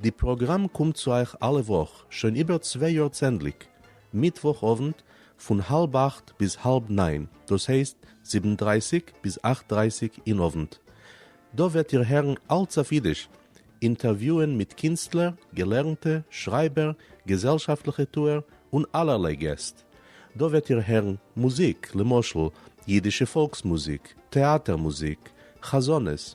די פראגראם קומט צו אייך אלע וואך שוין איבער צוויי יאר צענדליג מיטוואך אוונט פון האלב אכט ביז האלב ניין דאס הייסט זיבן דרייסיג ביז אכט דרייסיג אין אוונט. דא וועט איר הערן אלץ אויף אידיש, אינטערוויוען מיט קינסטלער, געלערנטע, שרייבער, געזעלשאפטליכע טוער און אלערליי געסט. דא וועט איר הערן מוזיק, למשל אידישע פאלקס מוזיק, טעאטער מוזיק, חזנות,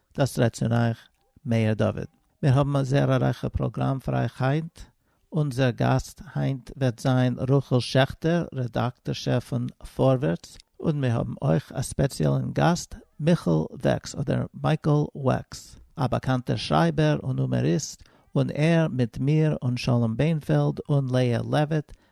דאס רעדט צון אייך מאיר דוד. מיר האבן א זעהר א רייכע פראגראם פאר אייך היינט. אונזער גאסט היינט וועט זיין רחל שעכטער, רעדאקטארשע פון פארווערטס, און מיר האבן אויך א ספעציעלען גאסט, מיכל וועקס אדער מייקל וועקס, א באקאנטער שרייבער און הומעריסט, און ער מיט מיר און שלום בענפעלד און לאה לעוויט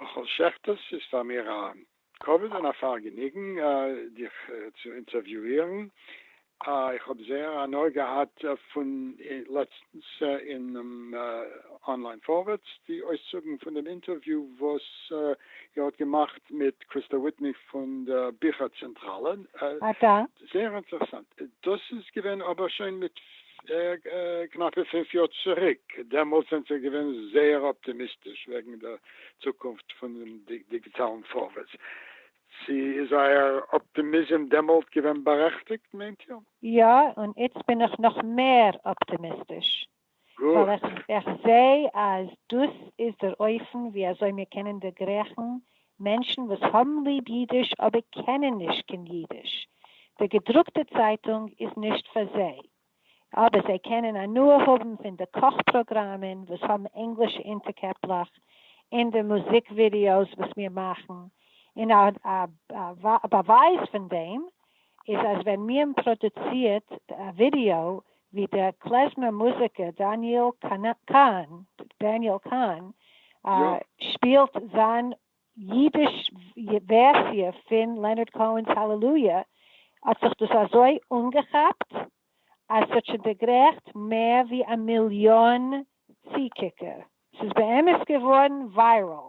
רחל שכטרס איז פאר מיר א כבוד און א פארגעניגן דיך צו אינטערוויואירן, איך האב זייער הנאה געהאט פון לעצטנס אינעם אנליין פארווערטס די אויסצוגן פון דעם אינטערוויו וואס איר האט געמאכט מיט קריסטא וויטני פון דער ביכער צענטראלע, זייער אינטערעסאנט, דאס איז געווען אבער שוין מיט. קנאפע פֿינף יאר צוריק, דעמאלטס זענט איר געווען זייער אפטימיסטיש וועגן דער צוקונפט פונעם דיגיטאלן פארווערטס, צו איז אייער אפטימיזם דעמאלט געווען בארעכטיגט מיינט איר? יא, און איצט בין איך נאך מער אפטימיסטיש, ווייל איך זע אז דאס איז דער אופן ווי אזוי מיר קענען דערגרעכן מענטשן וואס האבן ליב אידיש אבער קענען נישט קיין אידיש, די געדרוקטע צייטונג איז נישט פאר זיי, אבער זיי קענען הנאה האבן פון די קאך פראגראמען וואס האבן ענגלישע אונטערקעפלעך, און די מוזיק ווידיאוס וואס מיר מאכן, און א באווייז פון דעם איז אז ווען מיען פראדוצירט א ווידיאו ווי דער קלעזמער מוזיקער דניאל קאהן Daniel Kahn שפילט זיין אידיש ווערסיע פין לענארד קאהן'ס האלעלויע האט זיך דאס אזוי אנגעכאפט אז ס'האט שוין דערגרעכט מער ווי א מיליאן צוקוקער, ס'איז באמת געווארן וויירעל,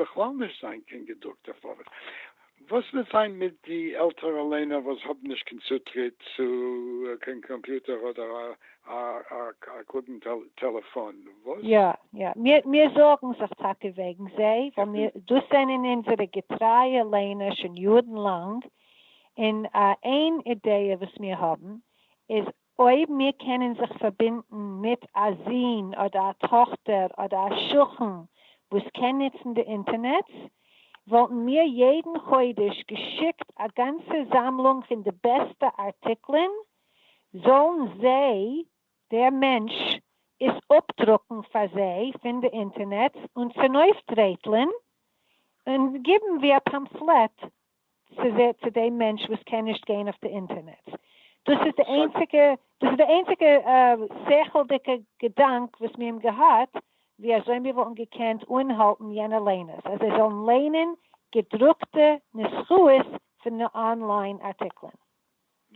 בכלל נישט זיין קיין געדרוקטע פארווע. וואס וועט זיין מיט די עלטערע ליינער וואס האבן נישט קיין צוטריט צו קיין קאמפיוטער אדער א קלוגן טעלעפאן? וואס? יא יא, מיר זארגן זיך טאקע וועגן זיי, ווייל מיר, דאס זענען אונזערע געטרייע ליינער שוין יארן לאנג, און איין אידעע וואס מיר האבן איז אויב מיר קענען זיך פארבינדן מיט א זון אדער א טאכטער אדער א שכן וואס קען נוצן די אינטערנעץ, וואלטן מיר יעדן חודש געשיקט א גאנצע זאמלונג פון די בעסטע ארטיקלען, זאלן זיי, דער מענטש, עס אפדרוקן פאר זיי פון די אינטערנעץ און צונויפדרייטלען און גיבן ווי א פאמפלעט ס'זעהט צו דעם מענטש וואס קען נישט גיין אויף די אינטערנעט. דאס איז די איינציגע דאס איז די איינציגע שכל'דיגע געדאנק וואס מיר האבן געהאט ווי אזוי מיר וואלטן געקענט אנהאלטן יענע ליינערס אז זיי זאלן ליינען געדרוקטע נוסחאות פון אנליין ארטיקלען.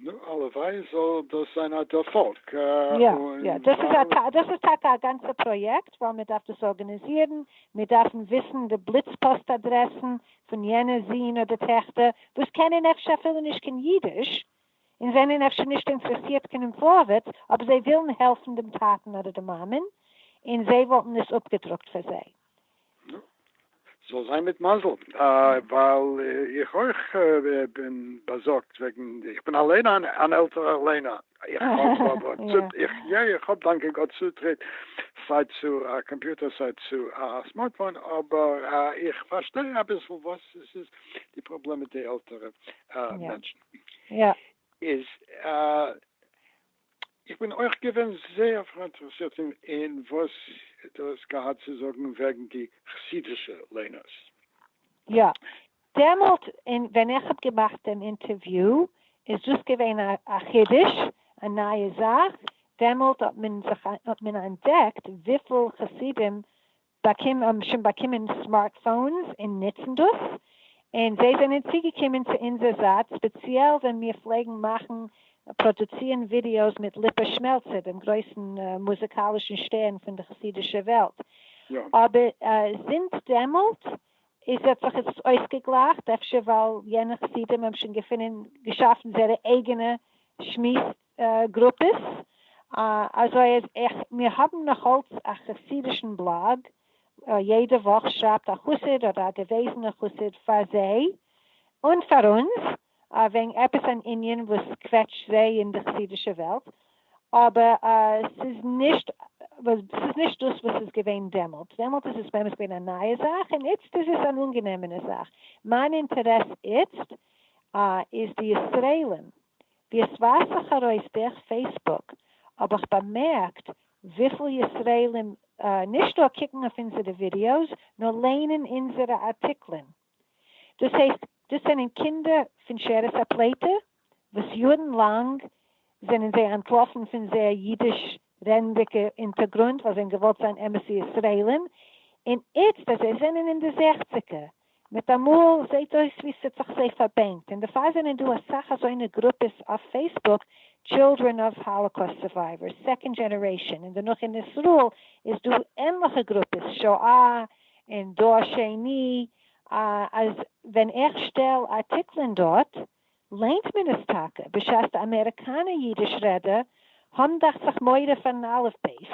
נו, הלוואי זאל דאס זיין א דערפאלג. יא, יא, דאס איז א, דאס איז טאקע א גאנצע פראיעקט, ווייל מען דארף דאס ארגאניזירן, מיר דארפן וויסן די בליץ פאסט אדרעסן פון יענע זין אדער טעכטער וואס קענען אפשר אפילו נישט קיין אידיש, און זענען אפשר נישט אינטערעסירט קיין אין פארווערטס, אבער זיי ווילן העלפן דעם טאטן אדער די מאמען, און זיי וואלטן עס אפגעדרוקט פאר זיי. נו, זאל זיין מיט מזל, ווייל איך אויך בין באזארגט וועגן, איך בין אליין אן עלטערער ליינער, איך האב דאנקע גאט צוטריט סיי צו א קאמפיוטער סיי צו א סמארטפאון, אבער איך פארשטיי אביסל וואס עס איז די פראבלעם מיט די עלטערע מענטשן, איז איך בין אויך געווען זייער פאראינטערעסירט אין וואס דו האסט געהאט צו זאגן וועגן די חסידישע ליינערס. יא, דעמאלט אין ווען איך האב געמאכט דעם אינטערוויו איז דאס געווען א חידוש, א נייע זאך, דעמאלט האט מען זיך האט מען אנטדעקט וויפיל חסידים באקומען האבן שוין באקומען סמארטפאונס און נוצן דאס, און זיי זענען צוגעקומען צו אונזער זייט ספעציעל ווען מיר פלעגן מאכן פראדוצירן ווידיאוס מיט ליפא שמעלצער דעם גרויסן מוזיקאלישן שטערן פון די חסידישע וועלט, אבער זינט דעמאלט איז האט זיך עס אויסגעגלייכט, אפשר ווייל יענע חסידים האבן שוין געפונען געשאפן זייערע אייגענע שמועס גרופעס, אזוי אז איך, מיר האבן נאכאלץ א חסידישן בלאג, יעדע וואך שרייבט א חסיד אדער א געוועזענע חסיד פאר זיי און פאר אונז וועגן עפעס אן ענין וואס קוועטשט זיי אין די חסידישע וועלט, אבער ס'איז נישט ס'איז נישט דאס וואס ס'איז געווען דעמאלט, דעמאלט איז עס באמת געווען א נייע זאך און איצט איז עס אן אנגענעמענע זאך, מיין אינטערעס איצט איז די ישראלים. ווי עס ווייזט זיך ארויס דורך פעיסבוק האב איך באמערקט וויפיל ישראלים נישט נאר קוקן אויף אונזערע ווידיאוס נאר ליינען אונזערע ארטיקלען. דאס הייסט דאס זענען קינדער פון שארית הפליטה וואס יארן לאנג זענען זיי אנטלאפן פון זייער אידיש רעדנדיגע אונטערגרונט ווייל זיי האבן געוואלט זיין אמת'ע ישראלים און איצט אז זיי זענען אין די זעכציגער מיטאמאל זעהט אויס ווי ס'האט זיך זיי פארבענקט, און דערפאר זענען דא אסאך אזוינע גרופעס אויף פעיסבוק, טשילדרען אוו האלאקאוסט סורווייווערס, סעקאנד דזשענערעישאן, און דערנאך אין איזראעל איז דא ענליכע גרופעס, שואה און דור שני, אז ווען איך שטעל ארטיקלען דארט ליינט מען עס טאקע, בשעת די אמעריקאנע אידיש רעדער האבן דאכט זיך מורא פארן אלף בית,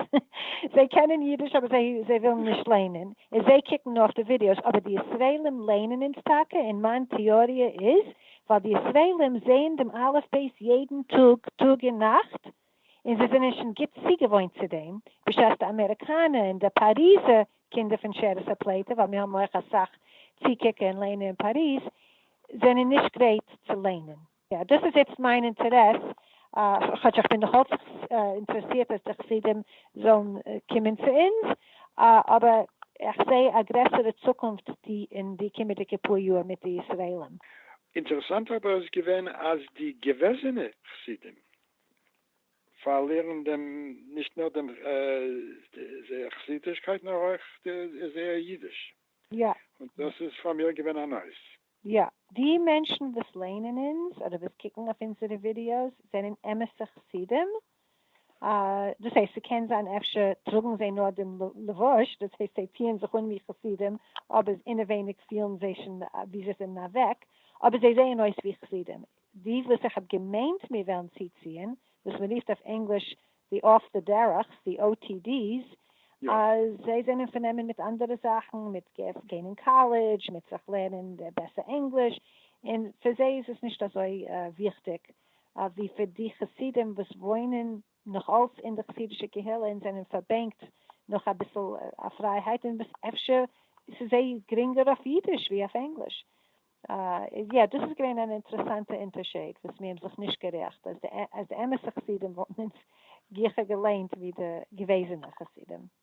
זיי קענען אידיש אבער זיי ווילן נישט ליינען, און זיי קוקן נאר אויף די ווידיאוס, אבער די ישראלים לערנען אונז טאקע, און מיין טיאריע איז ווייל די ישראלים זעען דעם אלף בית יעדן טאג, טאג און נאכט, און זיי זענען שוין גוט צוגעוואוינט צו דעם, בשעת די אמעריקאנע און די פאריזע קינדער פון שארית הפליטה, ווייל מיר האבן אויך אסאך צוקוקער און לערנער אין פאריז, זענען נישט גרייט צו לערנען. יא, דאס איז איצט מיין אינטערעס, כאטש איך בין נאכאלץ אינטערעסירט אז די חסידים זאלן קומען צו אונז, אבער איך זע א גרעסערע צוקונפט אין די קומעדיגע פאר יאר מיט די ישראלים. אינטערעסאנט אבער איז געווען אז די געוועזענע חסידים פארלירן דעם נישט נאר דעם זייער חסידישקייט נאר אויך זייער אידיש, און דאס איז פאר מיר געווען א נויז. יא, די מענטשן וואס ליינען אונז אדער וואס קוקן אויף אונזערע ווידיאוס זענען אמת'ע חסידים, דאס הייסט ס'קען זיין אפשר טראגן זיי נאר דעם לבוש, דאס הייסט זיי טוען זיך אן ווי חסידים, אבער אינעווייניג פילן זיי שוין ווי זיי זענען אוועק, אבער זיי זעען אויס ווי חסידים. די וואס איך האב געמיינט מיר וועלן צוציען, וואס מען רופט אויף ענגליש די אף די דערך'ס, די OTDs, אז זיי זענען פארנומען מיט אנדערע זאכן, מיט גיין אין קאלעדזש, מיט זיך לערנען בעסער ענגליש, און פאר זיי איז עס נישט אזוי וויכטיג, ווי פאר די חסידים וואס וואוינען נאך אלס אין די חסידישע קהילה און זענען פארבענקט נאך אביסל א פרייהייט און וואס אפשר ס'איז זיי גרינגער אויף אידיש ווי אויף ענגליש. יא דאס איז געווען אן אינטערעסאנטע אינטערשעיד וואס מיר האבן זיך נישט גערעכט אז די אמת'ע חסידים וואלטן אונז גיכער געליינט ווי די געוועזענע חסידים.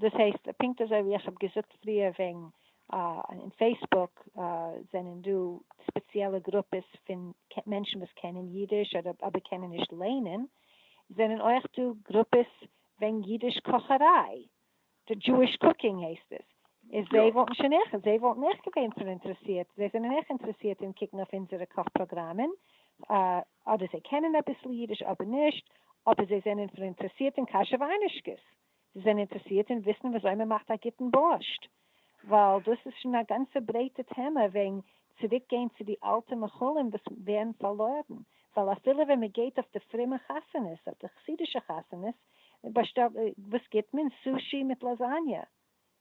דאס הייסט, פונקט אזוי ווי איך האב געזאגט פריער וועגן אין פעיסבוק זענען דא ספעציעלע גרופעס פון מענטשן וואס קענען אידיש אבער קענען נישט לערנען, זענען אויך דא גרופעס וועגן אידיש קאכעריי, די דזשואיש קוקינג הייסט עס, איז זיי וואלטן שוין אויך, זיי וואלטן אויך געווען פאראינטערעסירט, זיי זענען אויך אינטערעסירט אין קוקן אויף אונזערע קאך פראגראמען, אדער זיי קענען אביסל אידיש אדער נישט, אבער זיי זענען פאראינטערעסירט אין קאשער וויינעשקעס. זיי זענען אינטערסירט אין וויסן וויאזוי מען מאכט א גוטן בארשט, ווייל דאס איז שוין א גאנצע ברייטע טעמע וועגן צוריק גיין צו די אלטע מאכלים וואס ווערן פארלוירן, ווייל אפילו ווען מען גייט אויף די פרומע חתונות, אויף די חסידישע חתונות, באשטעלט, וואס גיבט מען? סושי מיט לאזאניא,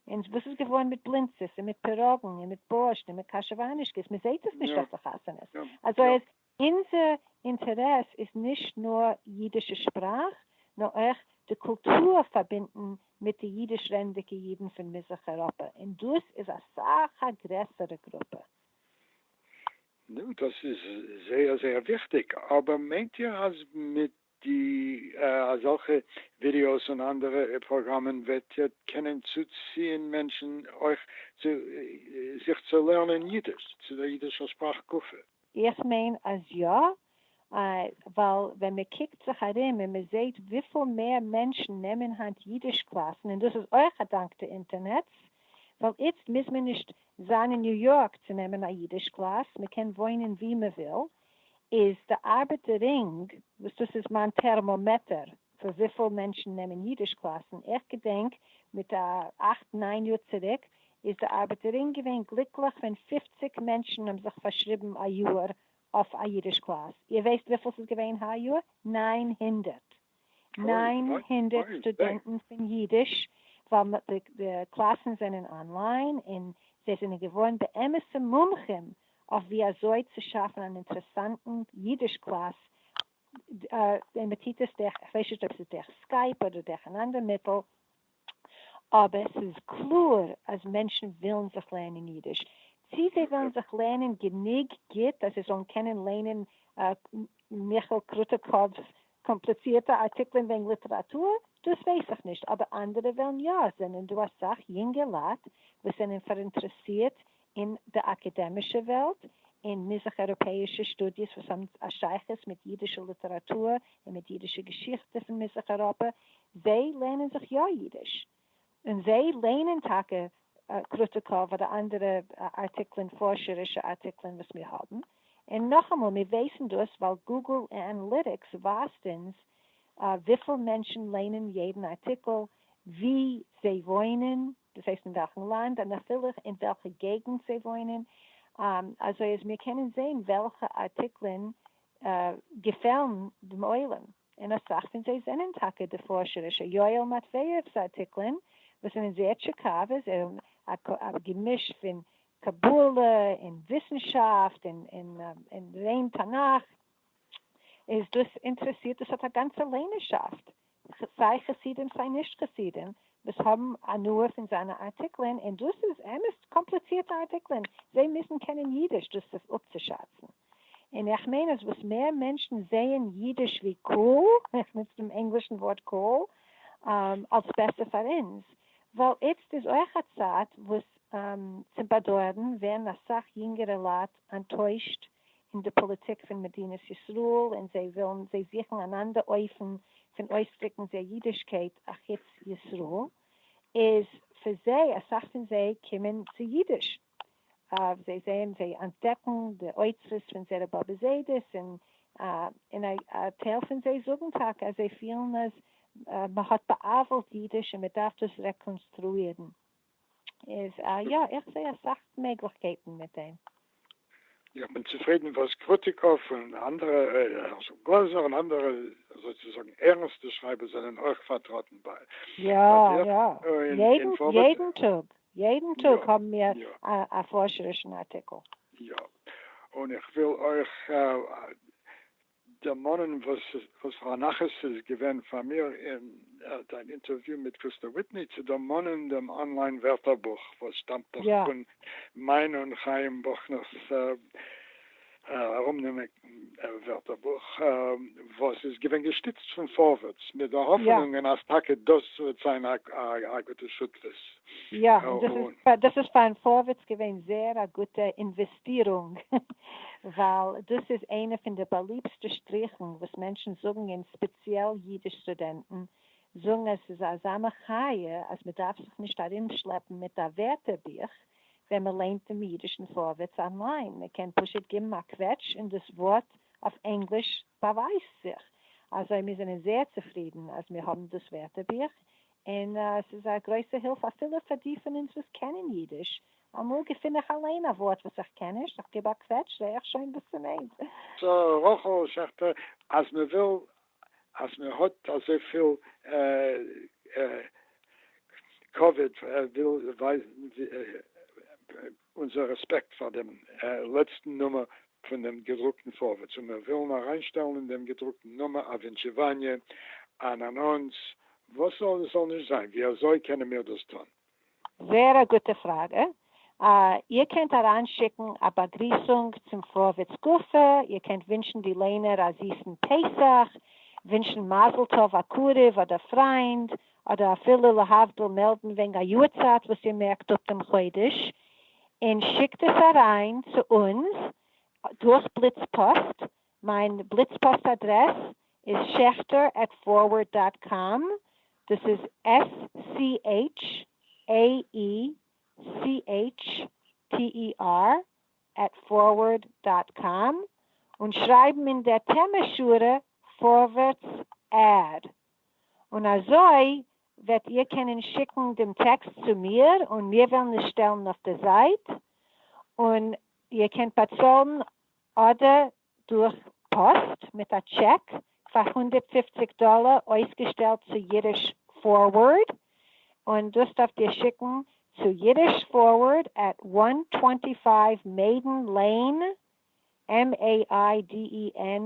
און וואס איז געווארן מיט בלינצעס און מיט פיראגן און מיט בארשט און מיט קאשעוואנישקעס, מען זעהט עס נישט אויף די חתונות, אזוי אז. אונזער אינטערעס איז נישט נאר אידישע שפראך, נאר אויך די קולטור פארבינדן מיט די אידיש רעדנדיגע אידן פון מזרח אייראפע, און דאס איז אסאך א גרעסערע גרופע. נו, דאס איז זייער זייער וויכטיג, אבער מיינט איר אז מיט די אזעלכע ווידיאוס און אנדערע פראגראמען וועט קענען צוציען מענטשן אויך צו זיך צו לערנען אידיש, צו דער אידישער שפראך גופא. איך מיין אז יא, ווייל ווען מען קוקט זיך ארום און מען זעהט וויפיל מער מענטשן נעמען היינט אידיש קלאסן, און דאס איז אויך אדאנק די אינטערנעץ, ווייל איצט מוז מען נישט זיין אין ניו יארק צו נעמען א אידיש קלאס, מען קען וואוינען ווי מען וויל, איז די ארבעט די רינג וואס דאס איז מיין טערמאמעטער פון וויפיל מענטשן נעמען אידיש קלאסן, איך געדענק מיט א אכט ניין יאר צוריק איז די ארבעט די רינג געווען גליקליך ווען פֿופֿציק מענטשן האבן זיך פארשריבן א יאר אויף א אידיש קלאס, איר ווייסט וויפיל ס'איז געווען היי יאר? נײַן הונדערט! נײַן הונדערט סטודענטן פון יידיש ווייל די קלאסן זענען אנליין און זיי זענען געווארן באמת'ע מומחים אויף ווי אזוי צו שאפן אן אינטערעסאנטן יידיש קלאס און מען טוט עס דורך כ'ווייס נישט אויב ס'איז דורך סקייפ אדער דורך אן אנדער מיטל אבער ס'איז קלאר אז מענטשן ווילן זיך לערנען אידיש, צי זיי ווילן זיך לערנען גענוג גוט אז זיי זאלן קענען ליינען מיכאל קרוטקוב'ס קאמפליצירטע ארטיקלען וועגן ליטעראטור, דאס ווייס איך נישט, אבער אנדערע וועלן יא, עס זענען דא אסאך יונגע לייט וואס זענען פאראינטערעסירט אין די אקעדעמישע וועלט, אין מזרח אייראפעאישע שטודיעס וואס האבן א שייכות מיט אידישע ליטעראטור און מיט אידישע געשיכטע פון מזרח אייראפע, זיי לערנען זיך יא אידיש, און זיי לערנען טאקע קראטיקאוו אדער אנדערע ארטיקלען, פארשערישע ארטיקלען וואס מיר האבן, און נאכאמאל, מיר ווייסן דאס ווייל גוגל אנאליטיקס ווייזט אונז וויפיל מענטשן לערנען יעדן ארטיקל, וואו זיי וואוינען, דאס הייסט אין וועלכן לאנד און אפילו אין וועלכע געגנט זיי וואוינען, אזוי אז מיר קענען זען וועלכע ארטיקלען געפעלן דעם עולם, און אסאך פון זיי זענען טאקע די פארשערישע יואל מאטוועיעוו'ס ארטיקלען וואס זענען זייער טשיקאווע, זיי האבן א געמיש פון קבלה און וויסנשאפט און ריין תנך, איז דאס אינטערעסירט, דאס האט א גאנצע ליינערשאפט סיי חסידים סיי נישט חסידים וואס האבן הנאה פון זיינע ארטיקלען, און דאס איז אמת קאמפליצירטע ארטיקלען, זיי מוזן קענען אידיש דאס אפצושאצן, און איך מיין אז וואס מער מענטשן זעען אידיש ווי cool, איך נוץ דעם ענגלישן ווארט cool, אלס בעסער פאר אונז, ווייל איצט איז אויך א צייט וואס צום באדויערן ווערן אסאך יונגערע לייט אנטוישט אין די פאליטיק פון מדינת ישראל און זיי ווילן זיי זוכן אן אנדער אופן פון אויסדריקן זייער אידישקייט אחוץ ישראל איז פאר זיי אסאך פון זיי קומען צו אידיש אוו זיי זעהן זיי אנטדעקן די אוצרות פון זייערע באבע זיידעס און און א א טייל פון זיי זאגן טאקע אז זיי פילן אז מען האט בא'עוול'ט אידיש און מען דארף דאס רעקאנסטרואירן. איז א יא, איך זעה אסאך מעגליכקייטן מיט דעם. איך בין צופרידן וואס קרוטיקוב און אנדערע, הערשל גלאזער און אנדערע אזוי צו זאגן ערנסטע שרייבער זענען אויך פארטראטן ביי יא יא, יעדן יעדן טאג יעדן טאג האבן מיר א פארשערישן ארטיקל. יא, און איך וויל אויך דערמאנען וואס פאר א נחת ס'איז געווען פאר מיר אין דיין אינטערוויו מיט קריסטא וויטני צו דערמאנען דעם אנליין ווערטערבוך וואס שטאמט דאך פון מיין און חיים בוכנער'ס ארומנעמען ווערטערבוך וואס איז געווען געשטיצט פון פארווערטס מיט די האפענונגען אז טאקע דאס וועט זיין א גוטע שותפות. יא, דאס איז פאר פארווערטס געווען זייער א גוטע פירונג, ווייל דאס איז איינע פון די באליבסטע שטריכן וואס מענטשן זאגן און ספעציעל אידיש סטודענטן זאגן אז עס איז אזא מחיה אז מען דארף זיך נישט ארומשלעפן מיט א ווערטערבוך ווען מען ליינט דעם אידישן פארווערטס אנליין, מען קען פשוט גיבן א קוועטש און דאס ווארט אויף ענגליש באווייזט זיך. אזוי מיר זענען זייער צופרידן אז מיר האבן דאס ווערטערבוך און עס איז א גרויסע הילף אפילו פאר די פון אונז וואס קענען אידיש, אמאל געפין איך אליין א ווארט וואס איך קען נישט, איך גיב א קוועטש זעה איך שוין וואס ס'מיינט. סא רחל שכטר אז מען וויל אז מען האט אזויפיל כבוד וויל ווייזן אונזער רעספעקט פאר דעם לעצטן נומער פון דעם געדרוקטן פארווערטס, און מיר ווילן אריינשטעלן אין דעם געדרוקטן נומער א ווינטשעוואניע, אן אנאנס, וואס זאל עס זאל נישט זיין, ווי אזוי קענען מיר דאס טון? זעהר א גוטע פראגע. איר קענט אריינשיקן א באגריסונג צום פארווערטס גופא, איר קענט ווינטשן די ליינער א זיסן פסח, ווינטשן מזל טוב א קרוב אדער פריינד, אדער אפילו להבדיל מעלדן וועגן א יארצייט וואס איר מערקט אפ דעם חודש, און שיקט עס אריין צו אונז דורך בליץ פאסט, מיין בליץ פאסט אדרעס איז שעכטער עט פארווערד דאט קאם, דאס איז עס סי עיטש עי אי סי עיטש טי אי אר עט פארווערד דאט קאם, און שרייבן אין דער טעמע שורה פארווערטס עד. און אזוי וועט איר קענען שיקן דעם טעקסט צו מיר און מיר וועלן עס שטעלן אויף די זייט, און איר קענט באצאלן אדער דורך פאסט מיט א טשעק פאר הונדערט פֿופֿציק דאלער אויסגעשטעלט צו אידיש פארווארד, און דאס דארפט איר שיקן צו אידיש פארווארד עט וואן טווענטי פייוו מעידען לעין MAIDEN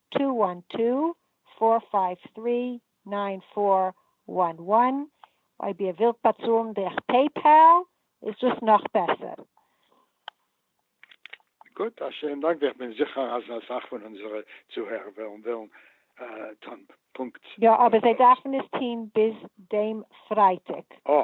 טו וואן טו פאר פייוו טרי ניין פאר וואן וואן, אויב איר ווילט באצאלן דורך פעיפעל איז דאס נאך בעסער. גוט, א שיין דאנק, איך בין זיכער אז אסאך פון אונזערע צוהערער וועלן וועלן טון פונקט. יא, אבער זיי דארפן עס טון ביז דעם פרייטאג. אה,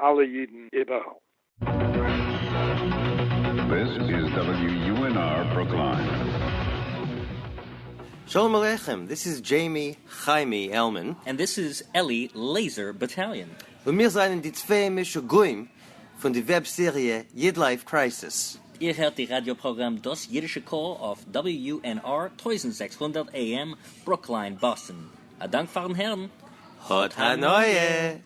אלע אידן איבעראל. שלום עליכם, דיס איז דזשעימי חיימי עלמען. און דיס איז אלי לעיזער באטאליאן. און מיר זענען די צוויי משוגעים פון די וועב סעריע איד לייף קרייסיס. איר הערט די ראדיא פראגראם דאס אידישע קול אויף WUNR טויזנט זעקס הונדערט AM ברוקלין באסטן. א דאנק פארן הערן. האט הנאה!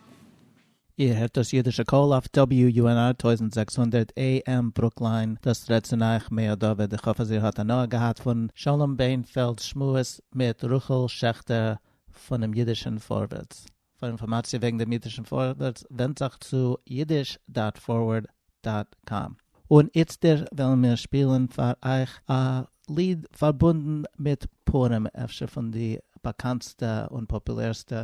איר הערט דאס אידישע קול אויף WUNR טויזנט זעקס הונדערט AM ברוקליין, דאס רעדט צו אייך מאיר דוד, איך האף אז איר האט הנאה געהאט פון שלום בענפעלד'ס שמועס מיט רחל שעכטער פונעם אידישען פארווערטס. פאר אינפארמאציע וועגן דעם אידישען פארווערטס ווענדט זיך צו אידיש דאט פארווערד דאט קאם. און איצטער וועלן מיר שפילן פאר אייך א ליד פארבונדן מיט פורים, אפשר פון די באקאנטסטע און פאפולערסטע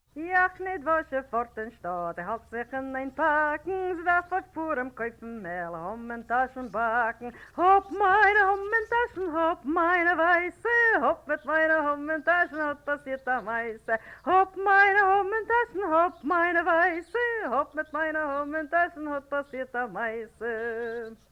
איך ניט װאָס זשע פֿאָרט אין שטאָט, איך האַלט זיך אין אײן פּאַקן, זשע-װעף אױף פּורים קױפֿן מעל, האָם און טאַשן באַקן. האָפּ מײַנע האָם און טאַשן, האָפּ מײַנע װײַסע, האָפּ מיט מײַנע האָם און טאַשן האָט פּאַסירט אַ מעשׂה. האָפּ מײַנע האָם און טאַשן, האָפּ מײַנע װײַסע, האָפּ מיט מײַנע האָם און טאַשן האָט פּאַסירט אַ מעשׂה.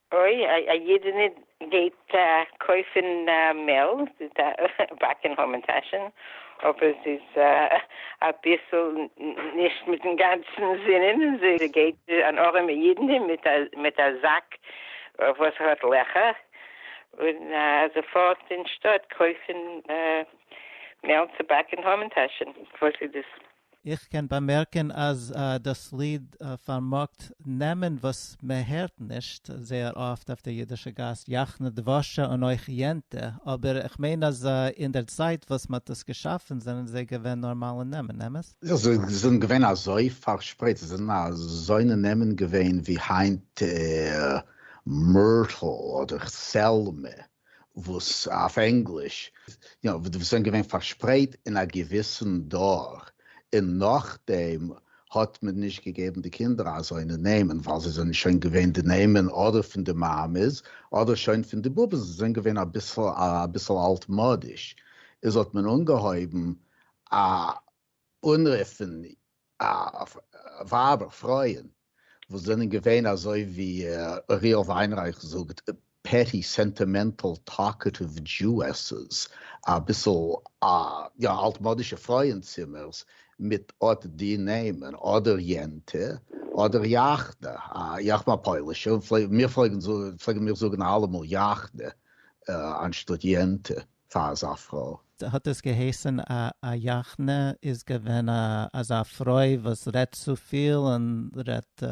אוי, א אידענע גייט קויפען מעל, זי איז א באקען המן טאשען, אבער זי איז אביסעל נישט מיטען גאנצען זינען, זי גייט אן ארעמע אידענע מיט א זאק וואס האט לעכער, און זי פארט אין שטאט קויפען מעל צו באקען המן טאשען, וואס איז דאס? געזאגט. איך קען באמערקען אז דאס ליד פארמאגט נעמען וואס מען הערט נישט זייער אפט אויף דער אידישע גאס, יחנה דבשה און אויך יענטע, אבער איך מיין אז אין דער צייט וואס מען האט דאס געשאפען זענען זיי געווען נארמאלע נעמען, אמת? זענען געווען אזוי פארשפרייט? זענען אזוינע נעמען געווען ווי היינט, מורטל אדער סעלמע? וואס אויף ענגליש, יא, וואס זענען געווען פארשפרייט אין א געוויסן דור, און נאכדעם האט מען נישט געגעבן די קינדער אזוינע נעמען, ווייל זיי זענען שוין געווען די נעמען אדער פון די מאמעס אדער שוין פון די באבעס, זיי זענען געווען אביסל אלטמאדיש, איז האט מען אנגעהויבן א אנרופן ווייבער פרויען וואס זענען געווען אזוי ווי אוריאל וויינרייך זאגט פעטי סענטימענטעל טאלקעטיוו דזשואסעס אביסל יא אלטמאדישע פרויען צימערס מיט אט די נעמען אדער יענטע אדער יאכנע איך בין א פוילישע און מיר פלעגן מיר זאגן אלעמאל יאכנע אנשטאט יענטע. פאר אזא פרוי. האט עס געהייסען א א יאכנע איז געווען א אזא פרוי וואס רעדט צופיל און רעדט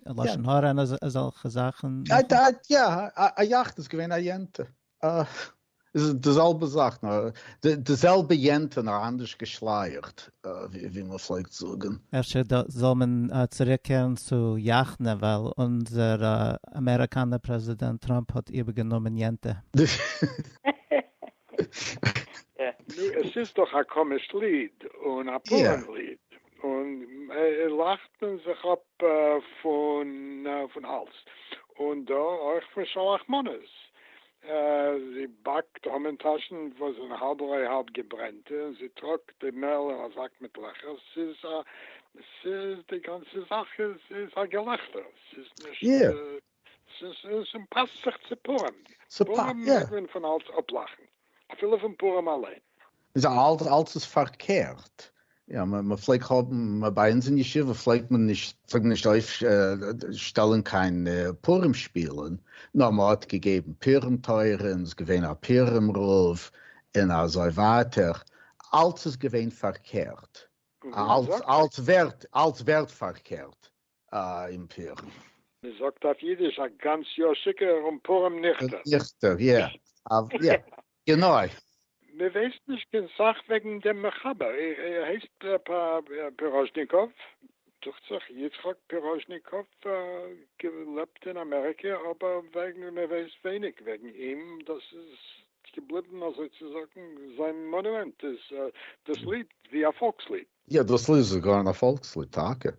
לשון הרע און אזעלכע זאכען. יא א יאכנע איז געווען א יענטע איז די זעלבע זאך נאר די זעלבע יענטע נאר אנדערש געשלייעכט. ווי מען פלעגט זאגן. אפשר זאל מען צוריקקערן צו יאכנע ווייל אונזער אמעריקאנער פרעזידענט טראמפ האט איבערגענומען יענטע. נו עס איז דאך א קאמיש ליד און א פארען ליד און לאכט מען זיך אפ פון אלס און דא אויך פון שלח מנות זי באקט המן-טאשן וואס זענען האלב-אויער-האלב געברענטע, און זי טראגט די מעל אין א זאק מיט לעכער. ס'איז א, ס'איז, די גאנצע זאך איז, איז א געלעכטער. ס'איז נישט, ס'איז, ס'פאסט זיך צו פורים. פורים מעג מען פון אלץ אפלאכן, אפילו פון פורים אליין. איז אלץ אלץ איז פארקערט, יא מען פלעגט האבן, ביי אונז אין ישיבה פלעגט מען נישט פלעגט מען נישט אויף שטעלען קיין פורים שפילען, נאר מען האט געגעבן פורים תורה און איז געווען א פורים רב און אזוי ווייטער, אלץ איז געווען פארקערט, אלץ אלץ ווערט אלץ ווערט פארקערט. אום פורים. מען זאגט אויף אידיש א גאנץ יאר שיכור און פורים ניכטער. ניכטער יא אוו יא גענוי. מען ווייסט נישט קיין סאך וועגן דעם מחבר, ער הייסט פיראזשניקאוו דוכט זיך, יצחק פיראזשניקאוו, געלעבט אין אמעריקע, אבער וועגן מען ווייסט ווייניג וועגן אים, דאס איז געבליבן אזוי צו זאגן זיין מאנומענט איז דאס ליד ווי א פאלקס ליד. יעדעס ליד איז זאגאר אין א פאלקס ליד טאקע.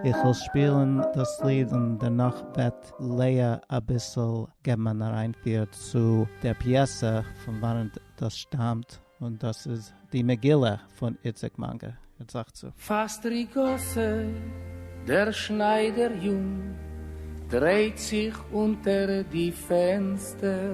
איך וועל שפילן דאס ליד און דערנאך וועט לאה אביסל געבן אן אריינפיר צו דער פיעסע פון וואנעט דאס שטאמט, און דאס איז די מגילה פון איציק מאנגער זאגט צו. פֿאַסט רי גאָסע, דער שנײַדער-יונג דרײט זיך אונטער די פֿענצטער.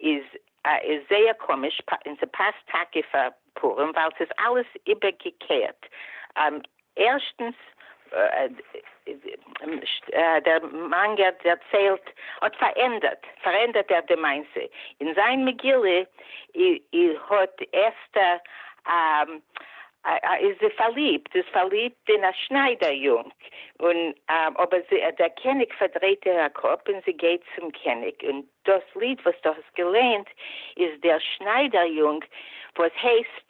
איז איז זייער קאמיש און ס'פאסט טאקע פאר פורים ווייל ס'איז אלעס איבערגעקערט, ערשטנס דער מאנגער דערציילט האט פארענדערט פארענדערט ער די מעשה, אין זיין מגילה האט אסתר איז פארליבט איז פארליבט אין א שניידער יונג און אבער דער קעניג פארדרייט איר א קאפ און זי גייט צום קעניג און דאס ליד וואס דו האסט געלייענט איז דער שניידער יונג וואס הייסט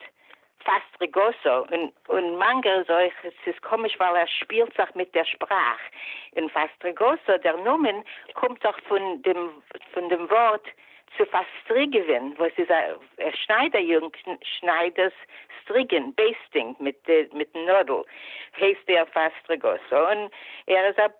פאסט רגעסו, און און מאנגא איז אויך, ס'איז קאמיש ווייל ער שפילט זיך מיט דער שפראך, און פאסט רגעסו דער נאמען קומט דאך פון דעם פון דעם ווארט צו פארסטריגעווען וואס איז א שניידער יונג שנייד דאס סטריגען, בעיסטינג, מיט מיטן נאדל, הייסט ער פאסט רגעסו און ער איז א.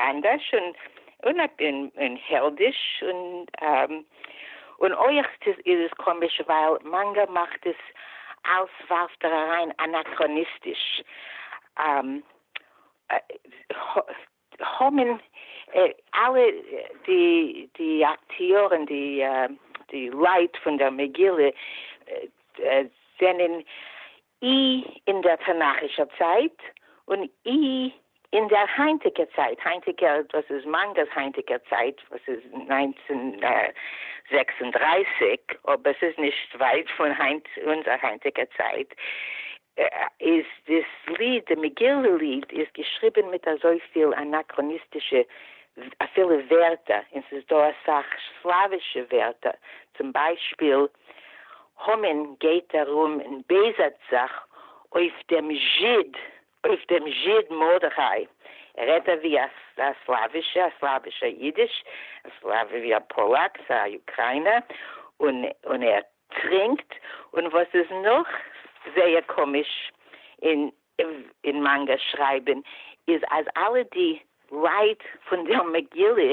אנדערש און און און העלדיש און און אויך איז עס קאמיש ווייל מאנגא מאכט עס אלס ווארפט ער אריין אנאכראניסטיש האמין אלע די די אקטיארען די די לייט פון דער מגילה זענען אי אין דער תנכישער צייט און אי אין דער היינטיקער צייט, היינטיקער דאס איז מאנגערס היינטיקער צייט וואס איז נײַנצן זעקס און דרײַסיק אבער ס'איז נישט ווייט פון היינט אונזער היינטיקער צייט, איז דאס ליד, די מגילה ליד, איז געשריבען מיט אזויפיל אנאקראניסטישע אפילו ווערטער, און ס'איז דא אסאך סלאווישע ווערטער, צום ביישפיל, המן גייט ארום און בעזהט זיך אויף דעם זשיד, אויף דעם זשיד מרדכי, ער רעדט אווי א סלאווישע, א סלאווישע אידיש, א סלאוו ווי א פאלאק, א אוקריינער, און און ער טרינקט, און וואס איז נאך זייער קאמיש אין אין מאנגא שרייבען איז אז אלע די לייט פון דער מגילה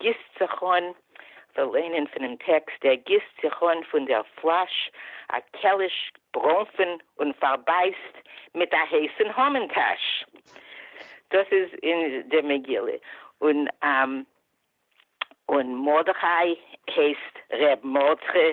גיסט זיך אן, כ'וועל ליינען פונעם טעקסט, ער גיסט זיך אן פון דער פלאש א קעליש ברוינפן און פארבייסט מיט א הייסן המן טאש. דאס איז אין די מגילה. און און מרדכי הייסט ר' מרדכי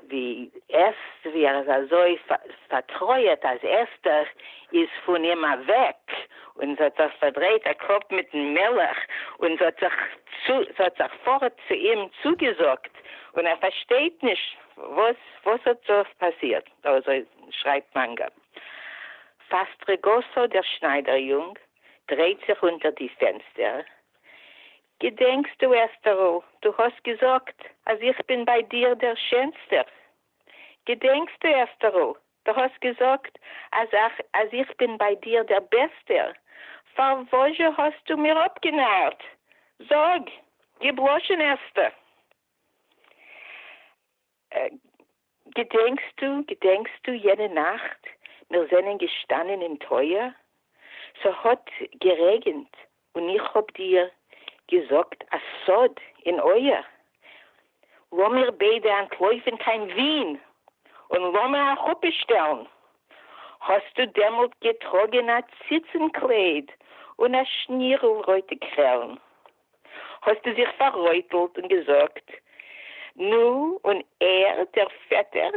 די עסט ווי ער איז אזוי פארטרויעט אז אסתר איז פון אים אוועק און זי האט זיך פארדרייט א קאפ מיטן מלך און זי האט זיך פארט צו אים צוגעזאגט און ער פארשטייט נישט וואס האט דא פאסירט, אזוי שרייבט מאנגא. פאסטרעגאסא דער שניידער יונג דרייט זיך אונטער די פענסטער געדענקסטו, אסתּרל, דו האָסט געזאָגט, אַז איך בין בײַ דיר דער שענסטער? געדענקסטו, אסתּרל, דו האָסט געזאָגט, אַז אַך, אַז איך בין בײַ דיר דער בעסטער? פֿאַר װאָס-זשע האָסטו מיר אָפּגענאַרט? זאָג! געבלאָשן, אסתּר! געדענקסטו, געדענקסטו יענע נאכט מיר זענען געשטאנען אין טויער, ס'האט גערעגענט און איך האב דיר געזאגט א סוד אין אויער, לאמיר ביידע אנטלויפן קיין ווין און לאמיר א חופה שטעלן, האסטו דעמאלט געטראגען א ציצן קלייד און א שנירל רויטע קרעלן, האָסטו זיך פֿאַררויטלט און געזאָגט, נו, און ער, דער פֿעטער,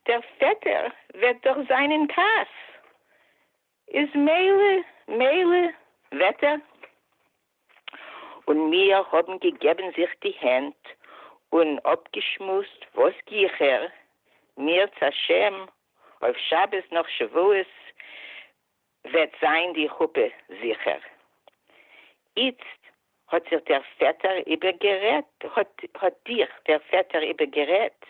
דער פֿעטער וועט דאָך זײַן אין כּעס, איז מילא, מילא, וועט ער. און מיר האָבן געגעבן זיך די הענט און אָפּגעשמועסט, וואָס גיכער, מיר-צה-השם, אויף שבת נאָך שבֿועות, וועט זיין די חופה זיכער. איצט האט זיך דער פעטער איבערגערעדט, האט דיך דער פעטער איבערגערעדט,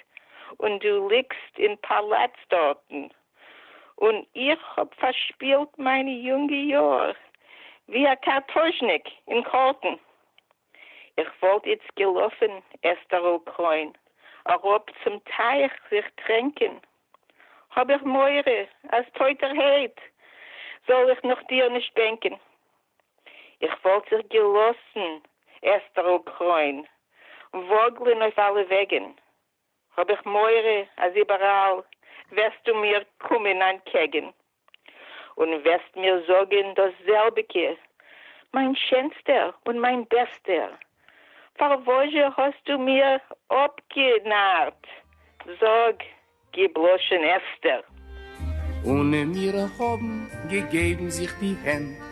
און דו ליגסט אין פאלאץ דארטן, און איך האב פארשפילט מיינע יונגע יאר ווי א קארטאזשניק אין קארטן. איך וואלט איצט געלאפען עסטערל קרוין אראפ צום טייך זיך טרענקען, האב איך מורא אז טויטער העט זאל איך נאך דיר נישט בענקען. איך וואלט זיך געלאסען עסטערל קרוין וואגלען אויף אלע וועגען, האב איך מורא אז איבעראל וועסטו מיר קומען אנטקעגען. און וועסט מיר זאגען דאס זעלביגע, מיין שענסטער און מיין בעסטער, פארוואז'ע האסטו מיר אפגענארט, זאג, גיב לשון עסתר. און מיר האבען געגעבען זיך די הענט.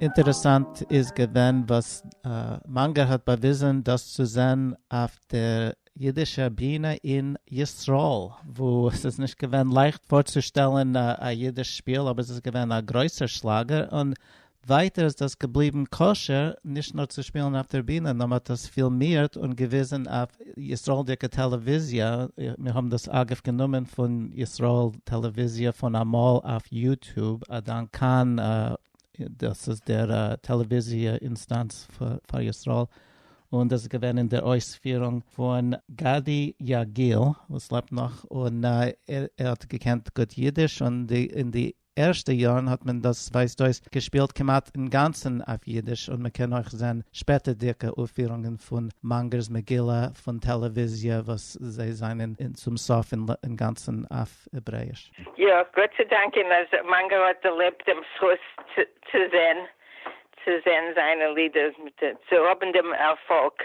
אינטערעסאנט איז געווען וואס מאנגער האט באוויזען דאס צו זען אויף דער אידישער בינע אין ישראל וואו עס איז נישט געווען לייכט פארצושטעלען א אידיש שפיל אבער עס איז געווען א גרויסער שלאגער און ווייטער איז דאס געבליבן כשר נישט נאר צו שפילן אויף דער בינע, נאר מען האט דאס פילמירט און געוויזן אויף ישראלדיקע טעלעוויזיע, מיר האבן דאס אגב גענומען פון ישראל טעלעוויזיע פון אמאל אויף יוטוב, א דאנק כאן, דאס איז דער טעלעוויזיע אינסטאנץ פאר ישראל, און דאס איז געווען אין דער אויספירונג פון גדי יגיל וואס לעבט נאך און ער האט געקענט גוט אידיש און די ערשטע יארן האט מען דאס ווייזט אויס געשפילט כמעט אינגאנצן אויף אידיש און מ'קען אויך זען שפעטערדיגע אויפפירונגען פון מאנגער'ס מגילה פון טעלעוויזיע וואס זיי זענען צום סוף אינגאנצן אויף העברעיש. יא, גאט צו דאנקען אז מאנגער האט דערלעבט דעם זכות צו זען צו זען זיינע לידער, צו האבן דעם ערפאלג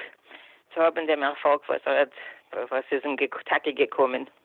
צו האבן דעם ערפאלג וואס ער האט וואס איז אים טאקע געקומען.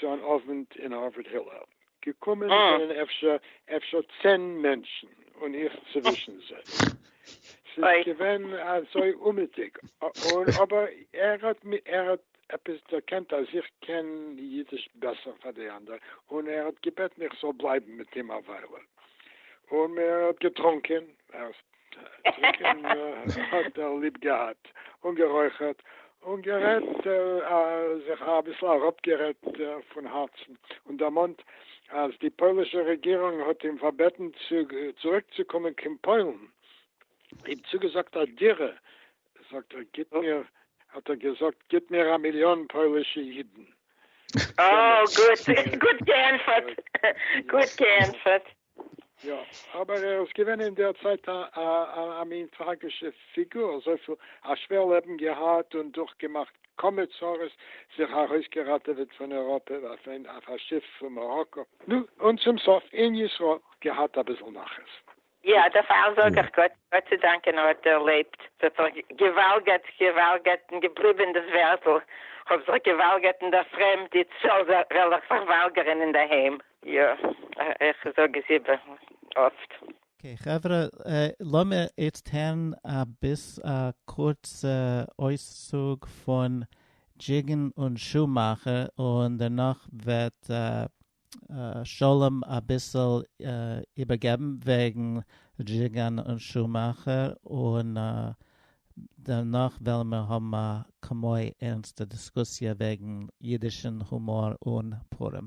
צו אן אוונט אין הארווארד הילל, געקומען זענען אפשר אפשר צען מענטשן און איך צווישן זיי, ס'איז געווען אזוי אומעטיג, און אבער ער האט ער האט עפעס דערקענט אז איך קען אידיש בעסער פאר די אנדערע, און ער האט געבעטן איך זאל בלייבן מיט אים א וויילע, און מען האט געטרונקען, ציקען האָט ער ליב געהאַט, און גערױכערט און גערעדט, זיך אַביסל אַראָפּגערעדט פֿון האַרצן און דערמאָנט, אַז די פּױלישע רעגירונג האָט אים פֿאַרבעטן צוריקצוקומען קײן פּױלן, אים צוגעזאָגט אַ דירה, זאָגט ער, גיט מיר, האָט ער געזאָגט, גיט מיר אַ מיליאָן פּױלישע ייִדן. אָ, גוט, גוט געענטפֿערט, גוט געענטפֿערט! יא, אבער ער איז געווען אין דער צייט א מין טראגישע פיגור, אזויפיל א שווער לעבן געהאט און דורכגעמאכט כמה צרות, זיך ארויסגעראטעוועט פון אייראפע אויף א שיף פון מאראקא, נו, און צום סוף אין ישראל געהאט אביסל נחת. יא, דערפאר זאג איך גאט צו דאנקען ער האט דערלעבט, ס'האט זיך געוואלגערט, געוואלגערט און געבליבען דאס ווערטל, כ'האב זיך געוואלגערט אין דער פרעמד, איצט זאל ער זיך וואלגערען אינדערהיים. יא, איך זאג עס איבער אפט. אקעי חברה, לאמיר איצט הערן א ביס א קורצע אויסצוג פון דזשיגען און שומאכער, און דערנאך וועט שלום אביסל איבערגעבן וועגן דזשיגען און שומאכער, און דערנאך וועלן מיר האבן א כמו ערנסטע דיסקוסיע וועגן אידישן הומאר און פורים.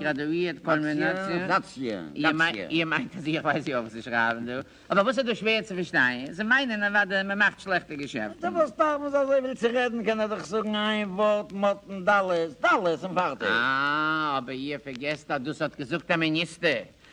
גראדואירט קולמינאציע? איר מיינט אז איך ווייס יא וואס זיי שרייבן דא? אבער וואס איז דא שווער צו פארשטיין? זיי מיינען אוודאי אז מען מאכט שלעכטע געשעפטן. פארוואס דארף מען זיי אזויפיל צו רעדן? קען ער דאך זאגן איין ווארט מאטן דאלעס דאלעס און פארטיג. אה, אבער איר פארגעסט אז דאס האט געזאגט א מיניסטער,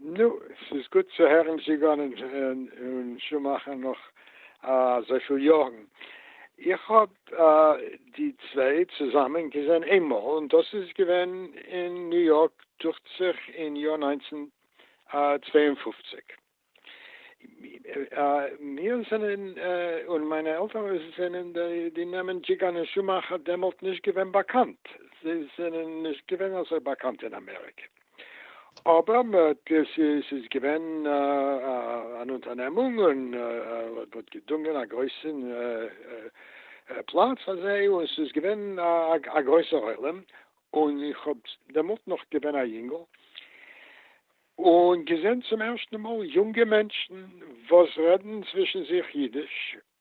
נו, ס'איז גוט צו הערן זיגאן און שומאכער נאך אזויפיל יארן. איך האב די צוויי צוזאמען געזען איינמאל, און דאס איז געווען אין ניו יארק, דוכט זיך אין יאר נײַנצן צוויי און פֿופֿציק. מיר זענען, און מיינע עלטערן זענען, די נעמען דזשיגאן און שומאכער דעמאלט נישט געווען באקאנט. זיי זענען נישט געווען אזוי באקאנט אין אמעריקע. אבער עס איז געווען אן אונטערנעמונג און מען האט געדונגען א גרויסע פלאץ אזוי און עס איז געווען א גרויסער עולם און איך האב דעמאלט נאך געווען א יונגל און געזען צום ערשטן מאל יונגע מענטשן וואס רעדן צווישן זיך אידיש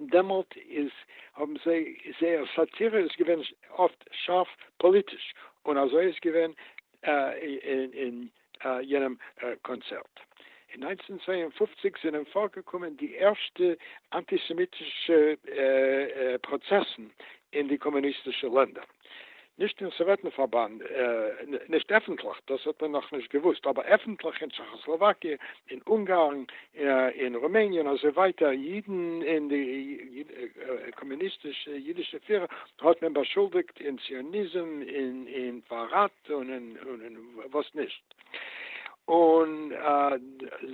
דעמאלט איז האבן זיי זייער סאטירע איז געווען אפט שארף פאליטיש און אזוי איז געווען אין יענעם קאנצערט. אין נײַנצן צוויי און פֿופֿציק זענען פארגעקומען די ערשטע אנטיסעמיטישע פראצעסן אין די קאמוניסטישע לענדער. נישט אין סאוועטן פארבאנד, נישט עפנטליך, דאס האט מען נאכנישט געוואוסט, אבער עפנטליך אין טשעכאסלאוואקיע, אין אונגארן, אין רומעניע און אזוי ווייטער, אידן און די קאמוניסטישע אידישע פירער האט מען באשולדיגט אין ציוניזם און אין פארראט און אין וואס נישט. און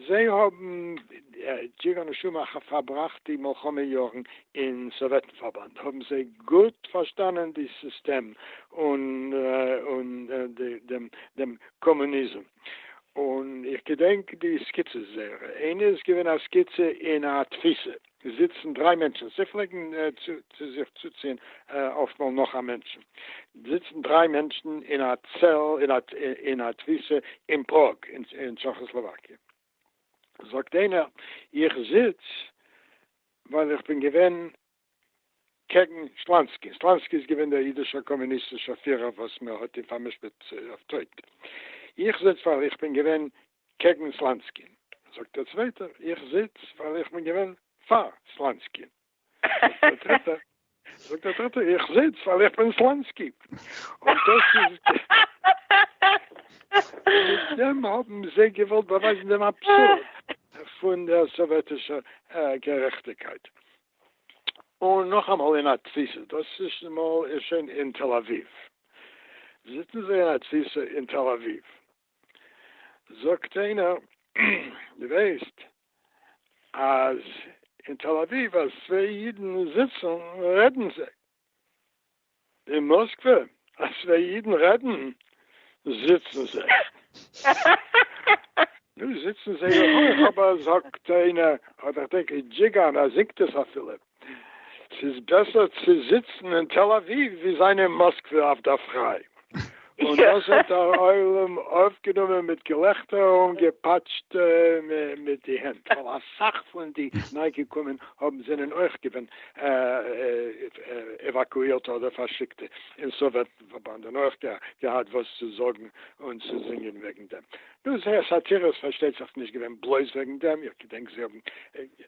זיי האבן ג'יגר נשמה אחר פארבראכט די מלחמה יארן אין סאוועטן פארבאנד האבן זיי גוט פארשטאנען די סיסטעם און דעם קאמוניזם און איך געדענק די סקיצעס זייערע, איינע איז געווען א סקיצע אין א תפיסה. זיצן דריי מענטשן, זיי פלעגן צו זיך צוציען אפטמאל נאך א מענטשן, זיצן דריי מענטשן אין א צעל אין א תפיסה אין פראג אין טשעכאסלאוואקיע, זאגט איינער איך זיץ ווייל איך בין געווען קעגן שלאנסקי, שלאנסקי איז געווען דער אידישער קאמוניסטישער פירער וואס מען האט אים פארמשפט אויף טויט, איך זיץ ווייל איך בין געווען קעגן סלאנסקין, זאגט דער צווייטער, איך זיץ ווייל איך בין געווען פאר סלאנסקין, זאגט דער דריטער, זאגט דער דריטער, איך זיץ ווייל איך בין סלאנסקי, און דאס איז מיט דעם האבן זיי געוואלט באווייזן דעם אבסורד פון דער סאוועטישער גערעכטיקייט. און נאכאמאל אין א תפיסה, דאס איז מאל איז שוין אין תל אביב, זיצן זיי אין א תפיסה אין תל אביב, זאגט איינער דו ווייסט אז אין תל אביב אז צוויי אידן זיצן רעדן זיי? אין מאסקווע אז צוויי אידן רעדן זיצן זיי? נו זיצן זיי אויך אבער זאגט איינער אדער כ'דענק דזשיגאן אז זינגט עס אפילו. ס'איז בעסער צו זיצן אין תל אביב ווי זיין אין מאסקווע אויף דער פריי. און דאס האט דער עולם אויפגענומען מיט געלעכטער און געפאטשט מיט די הענט, ווייל אסאך פון די ניי-געקומען האבן זענען אויך געווען עוואקואירטע אדער פארשיקטע אין סאוועט פארבאנד און אויך געהאט וואס צו זאגן און צו זינגען וועגן דעם. נו, זייער סאטירע איז פארשטייט זיך נישט געווען בלויז וועגן דעם, איך געדענק זיי האבן.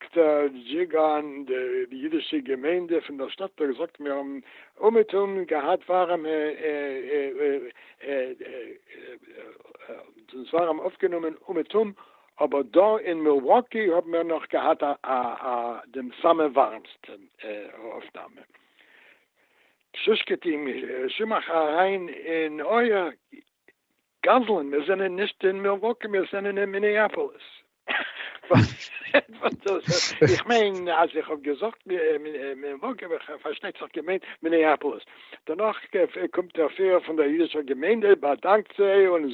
כתר דזשיגאן, די אידישע געמיינדע פון דער שטאט טאג זאגט מיר האבן אומעטום געהאט ווארעמע אונז ווארעם אויפגענומען אומעטום, אבער דא אין מילוואקי האבן מיר נאך געהאט א א דעם סאמע ווארעמסטע אויפנאמע. שושקעטין, שמעך אריין אין אויער. גזלן, מיר זענען נישט אין מילוואקי, מיר זענען אין מיניאפאליס. איך מיין אז איך האב געזאגט מילוואקי, האב איך פארשטייט זיך געמיינט מיניאפאליס. דערנאך קומט דער פירער פון דער אידישער געמיינדע, באדאנקט זיי און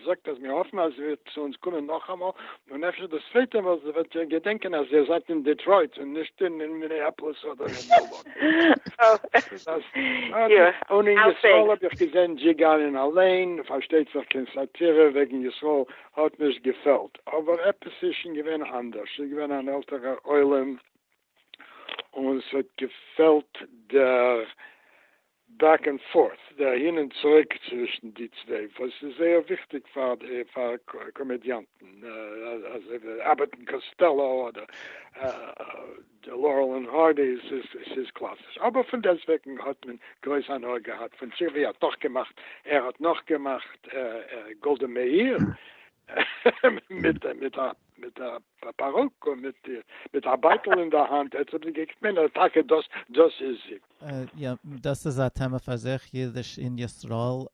זאגט אז מיר האפן אז איר וועט צו אונז קומען נאכאמאל, און אפשר דאס צווייטע מאל וועט איר געדענקען אז איר זייט אין דעטרויט און נישט אין מיניאפאליס אדער אין מילוואקי. און אין ישראל האב איך געזען דזשיגאנען אליין, פארשטייט זיך קיין סאטירע וועגן ישראל האט נישט געפעלט, אבער עפעס איז שוין געווען אנדערש, ס'איז געווען אן עלטערער עולם און ס'האט געפעלט דער בעק ענד פארט, די אהין און צוריק צווישן די צוויי, וואס איז זייער וויכטיג פאר די פאר קאמעדיאנטן, אזוי ווי אבעט און קאסטעלא אדער לארעל און הארדי, ס'איז קלאסיש, אבער פון דעסטוועגן האט מען גרויס הנאה געהאט פון טשירבי האט נאך געמאכט, ער האט נאך געמאכט גאלדע מאיר מיט א. מיט א פארוק און מיט א בייטל אין די האנט, עטס האט געקוקט מען אז טאקע דאס דאס איז זי. יא, דאס איז א טעמע פאר זיך, אידיש אין ישראל.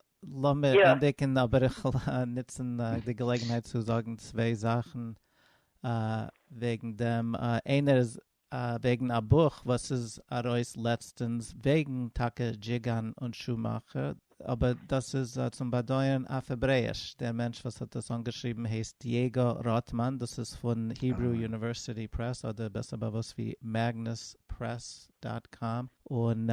לאמיר ענדיגן, אבער איך וויל נוצן די געלעגנהייט צו זאגן צוויי זאכן וועגן דעם. איינער איז וועגן א בוך וואס איז ארויס לעצטענס וועגן טאקע דזשיגאן און שומאכער, אבער דאס איז צום באדויערן אויף העברעיש, דער מענטש וואס האט דאס אנגעשריבן הייסט דייגא ראטמאן, דאס איז פון היברו יוניווערסיטי פרעס אדער בעסער באוואוסט ווי מעגנוס פרעס דאט קאם, און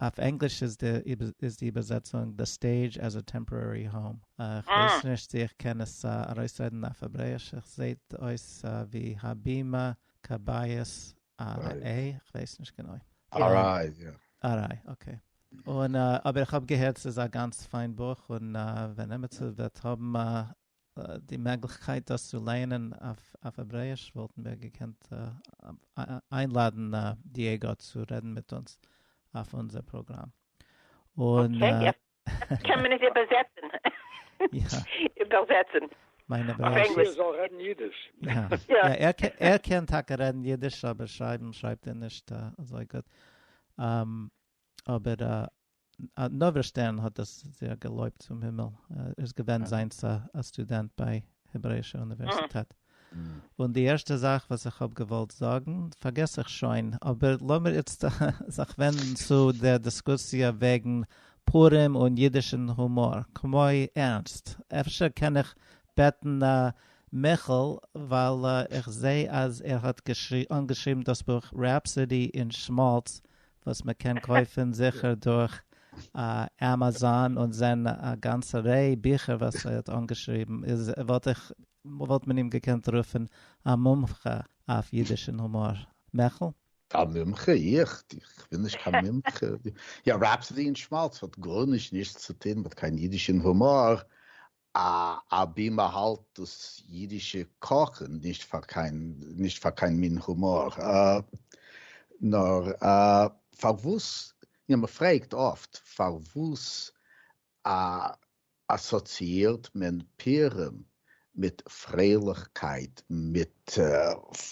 אויף ענגליש איז די איבערזעצונג The Stage as a Temporary Home, כ'ווייס נישט צו איך קען עס ארויסרעדן אויף העברעיש, עס זעהט אויס ווי הבימה קבייס אר איי, איך ווייס נישט גענוי. אר איי, יא. אר איי, אקעי. און אבער איך האב געהערט ס'איז א גאנץ פיין בוך, און ווען עמיצער וועט האבן די מעגליכקייט דאס צו לייענען אויף העברעיש וואלטן מיר געקענט איינלאדן דיעגא צו רעדן מיט אונז אויף אונזער פראגראם. און קען מען עס איבערזעצן? איבערזעצן. מיין אבער אז ער זאל רעדן אידיש. יא ער קען טאקע רעדן אידיש אבער שרייבן שרייבט ער נישט אזוי גוט. אבער נוברא שטערן האט דאס זייער געלויבט צום הימל. ער איז געווען זיינס א סטודענט ביי העברעישע אוניווערסיטעט. און די ערשטע זאך וואס איך האב געוואלט זאגן פארגעס איך שוין, אבער לאמיר איצט זיך ווענדן צו דער דיסקוסיע וועגן פורים און אידישן הומאר, כמו ערנסט, אפשר קען איך בעטן מיכאל ווייל איך זע אז ער האט אנגעשריבן דאס בוך Rhapsody in Schmaltz וואס מען קען קויפן זיכער דורך עמעזאן און זען א גאנצע ריי ביכער וואס ער האט אנגעשריבן איז וואלט איך וואלט מען אים געקענט רופען א מומחה אויף אידיש און הומאר. מעכל? א מומחה? איך? איך בין נישט קיין מומחה. יא, רעפסאדי און שמאלץ האט גארנישט נישט צו טוהן מיט קיין אידיש און הומאר, אבי מען האלט דאס אידישע קאכען נישט פאר קיין נישט פאר קיין מין הומאר. נאר פארוואס? יא, מען פרעגט אפט פארוואס א אסאציאירט מען פירם מיט פרייליכקייט, מיט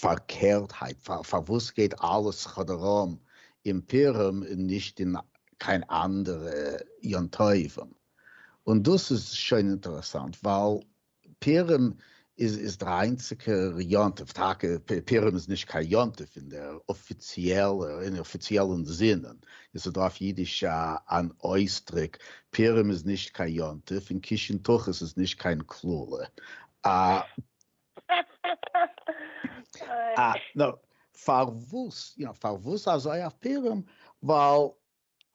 פארקערטהייט, פארוואס גייט אלעס כאדאראם אין פירם און נישט אין קיין אנדערע יום טובים? און דאס איז שוין אינטערעסאנט ווייל פורים איז איז דער איינציגער יום טוב, טאקע פורים איז נישט קיין יום טוב אין דער אפיציעלער אין אפיציעלען זינען, עס איז דא אויף אידיש אן אויסדריק, פורים איז נישט קיין יום טוב, און קישן תחת איז נישט קיין קללה. א. נו, פארוואס, יא, פארוואס אזוי אויף פורים? ווייל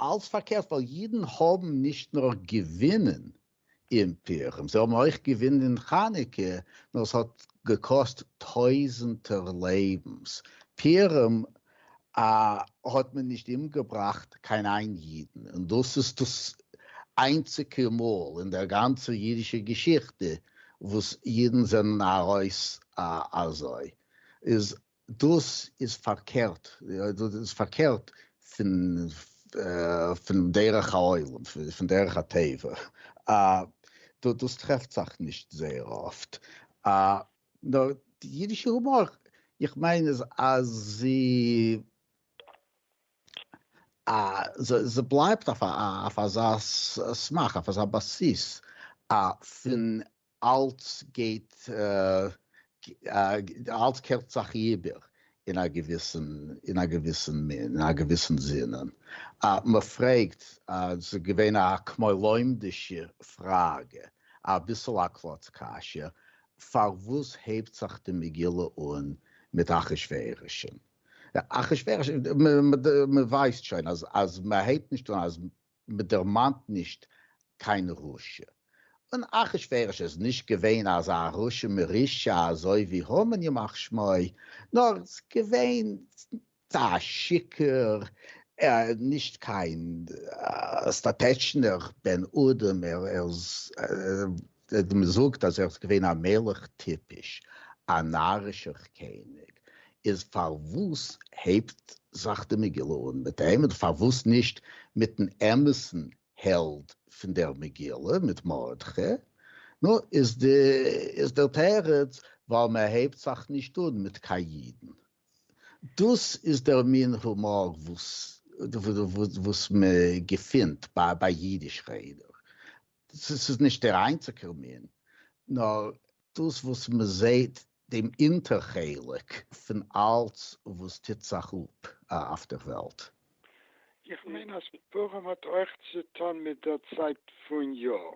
אלץ פארקערט, ווייל אידן האבן נישט נאר געווינען אין פורים, זיי האבן אויך געווינען אין חנוכה, נאר עס האט געקאסט טויזענטער לעבנס. פורים האט מען נישט אומגעבראכט קיין איין אידן, און דאס איז דאס איינציגע מאל אין דער גאנצער אידישער געשיכטע וואס אידן זענען ארויס אזוי. איז דאס איז פארקערט, דאס איז פארקערט פון פון דרך העולם, פון דרך הטבע, דאס טרעפט זיך נישט זייער אפט, נאר די אידישע הומאר, איך מיין איז אז זי זי בלייבט אויף אויף אזא סמך, אויף אזא בסיס פון אלץ גייט אלץ קערט זיך איבער אין א געוויסן אין א געוויסן מין אין א געוויסן זינען מ'פרעגט ס'איז געווען א כמאלוימדישע פראגע אביסל א קלאץ קשיא פארוואס הייבט זיך די מגילה אן מיט אחשורוש אחשורוש מ'ווייסט שוין אז אז מ'הייבט נישט אן אז מען דערמאנט נישט קיין רשע, און אחשורוש איז נישט געווען אזא רשע מרושע אזוי ווי המן ימח שמו, נאר געווען א שיכור, נישט קיין סטאטעטשנער בן אדם, ער איז מען זאגט אז ער איז געווען א מלך טיפש, א נארישער קעניג, איז פארוואס הייבט זיך די מגילה אן מיט אים, און פארוואס נישט מיטן אמת'ן העלד פון דער מגילה, מיט מרדכי? נו, איז דער תירוץ, ווייל מען הייבט זיך נישט אן מיט קיין אידן. דאס איז דער מין הומאר וואס מען געפינט ביי אידיש רעדער, ס'איז ס'איז נישט דער איינציגער מין, נאר דאס וואס מען זעהט דעם אונטער חלק פון אלץ וואס טוט זיך אפ אויף דער וועלט. איך מיין אז פורים האט אויך צוטון מיט דער צייט פון יאר.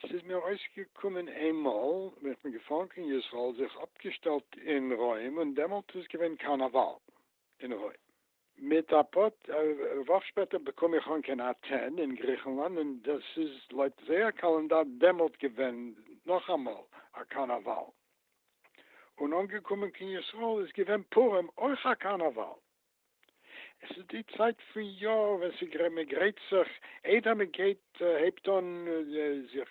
ס'איז מיר אויסגעקומען איינמאל ווען איך בין געפארן קיין ישראל, זיך אפגעשטעלט אין רוים, און דעמאלט איז געווען קארנאוואל. אין הוי. מיט א פאר וואך שפעטער באקום איך אן קיין אטען אין גריכנלאנד און דאס איז לויט זייער קאלענדאר דעמאלט געווען נאכאמאל א קארנאוואל. און אנגעקומען קיין ישראל איז געווען פורים אויך א קארנאוואל. עס איז די צייט פון יאר ווען ס'גרייט מען גרייט זיך איידער מען גייט ט, הייבט אן זיך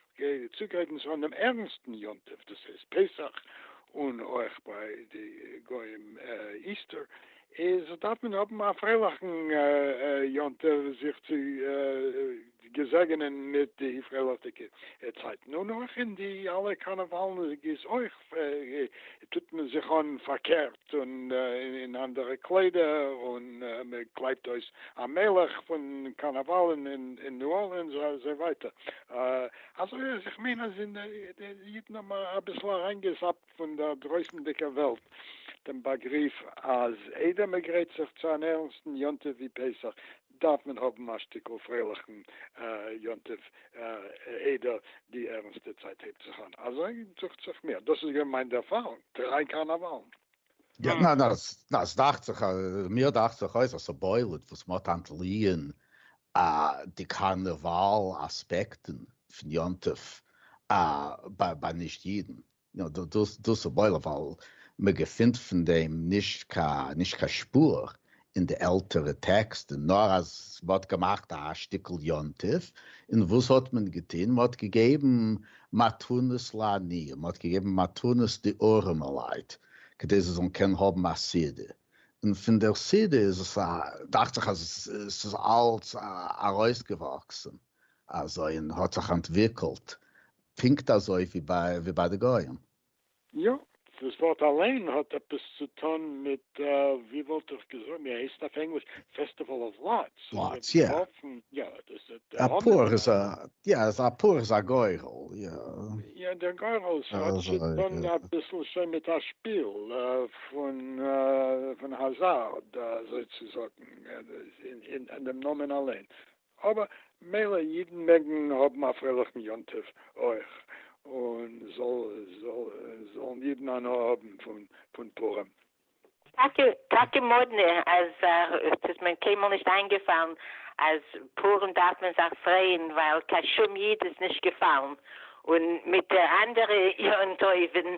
צוגרייטן צו אן ערנסטן יום טוב, דאס הייסט פסח, און אויך ביי די גוים איסטער, איז דארף מען האבן א פרייליכן יום טוב זיך צו געזעגענען מיט די פרייליכדיגע צייטן, און אויך אין די אלע קארנעוואלן איז אויך טוט מען זיך אן פארקערט. געשטופט און אין אנדערע קליידער און מען קלייבט אויס א מלך פון קארנאוואלן אין ניו ארלינס און אזוי ווייטער אזוי אז איך מיין אז די אידן האבן אביסל אריינגעזאפט פון דער דרויסנדיגער וועלט דעם באגריף אז איידער מען גרייט זיך צו אן ערנסטן יום טוב ווי פסח דארף מען האבן א שטיקל פרייליכן יום טוב איידער די ערנסטע צייט הייבט זיך אן, אזוי דוכט זיך מיר, דאס איז געווען מיין ערפארונג, דריי קארנאוואלן. יא, ניין, עס דאכט זיך, מיר דאכט זיך אויס אז ס'בולט וואס מ'האט אנטליען די קארנאוואל אספעקטן פון יום טוב ביי נישט אידן. יא דאס דאס איז וואויל ווייל מען געפינט פון דעם נישט קיין נישט קיין שפור אין די עלטערע טעקסטן נאר אז מען האט געמאכט א שטיקל יום טוב און וואס האט מען געטון מען האט געגעבן מתנות לעניים מען האט געגעבן מתנות די ארעמעלייט כדי זיי זאלן קענען האבן א סעודה און פון דער סעודה איז עס א דאכט זיך אז עס איז אלץ ארויסגעוואקסן אזוי און האט זיך אנטוויקלט פונקט אזוי ווי ביי די גוים. יא, דאס ווארט אליין האט עפעס צו טון מיט ווי וואלט איך געזאגט ווי הייסט אויף ענגליש פעסטיוועל אוו לאטס. לאטס יא. יא דאס איז די המון. א פור איז א יא א פור איז א גורל יא. יא דער גורל האט צו טון אביסל שוין מיט א שפיל פון האזארד אזוי צו זאגן אין דעם נאמען אליין אבער מילא אידן מעגן האבן א פרייליכן יום טוב אויך, און זאלן אידן הנאה האבן פון פורים. טאקע טאקע מאדנע אז עס איז מען קיינמאל נישט איינגעפאלן אז פורים דארף מען זיך פרייען ווייל קיין שום איד איז נישט געפאלן, און מיט די אנדערע יום טובים.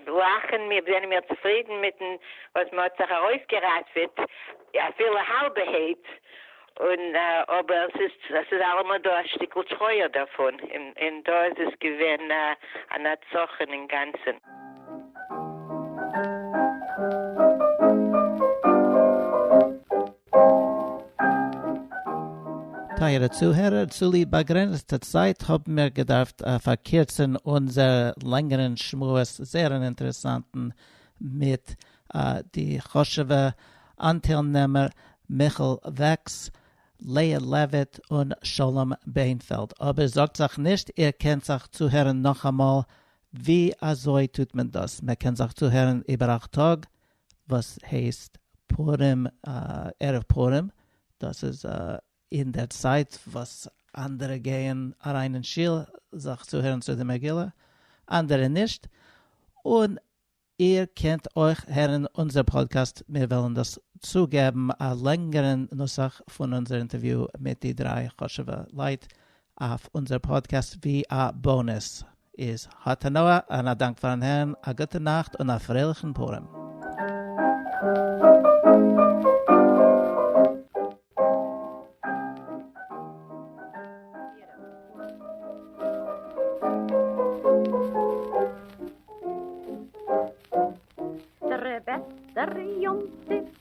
לאכן, מיר זענען מיר צופרידן מיטן וואס מען האט זיך ארויסגעראטוועט, אפילו האלבע העיט, און אבער ס'איז אלעמאל דא א שטיקל טרויער דערפון, און דא איז עס געווען א נצחון אינגאנצן. טייערע צוהערער, צוליב באגרעניצטע צייט האבן מיר געדארפט פארקירצן אונזער לענגערן שמועס, זייער אן אינטערעסאנטן, מיט די חשוב'ע אנטיילנעמער מיכאל וועקס, לאה לעוויט און שלום בענפעלד. אבער זארגט זיך נישט, איר קענט זיך צוהערן נאכאמאל. ווי אזוי טוט מען דאס? מען קען זיך צוהערן איבער אכט טאג, וואס הייסט פורים ערב פורים, דאס איז אין דער צייט וואס אנדערע גייען אריין אין שול זיך צוהערן צו די מגילה, אנדערע נישט, און איר קענט אויך הערן אונזער פאדקעסט, מיר וועלן דאס צוגעבן א לענגערן נוסח פון אונזער אינטערוויו מיט די דריי חשוב'ע לייט אויף אונזער פאדקעסט ווי א באונעס איז האט הנאה און א דאנק פארן הערן, א גוטע נאכט און א פרייליכן פורים.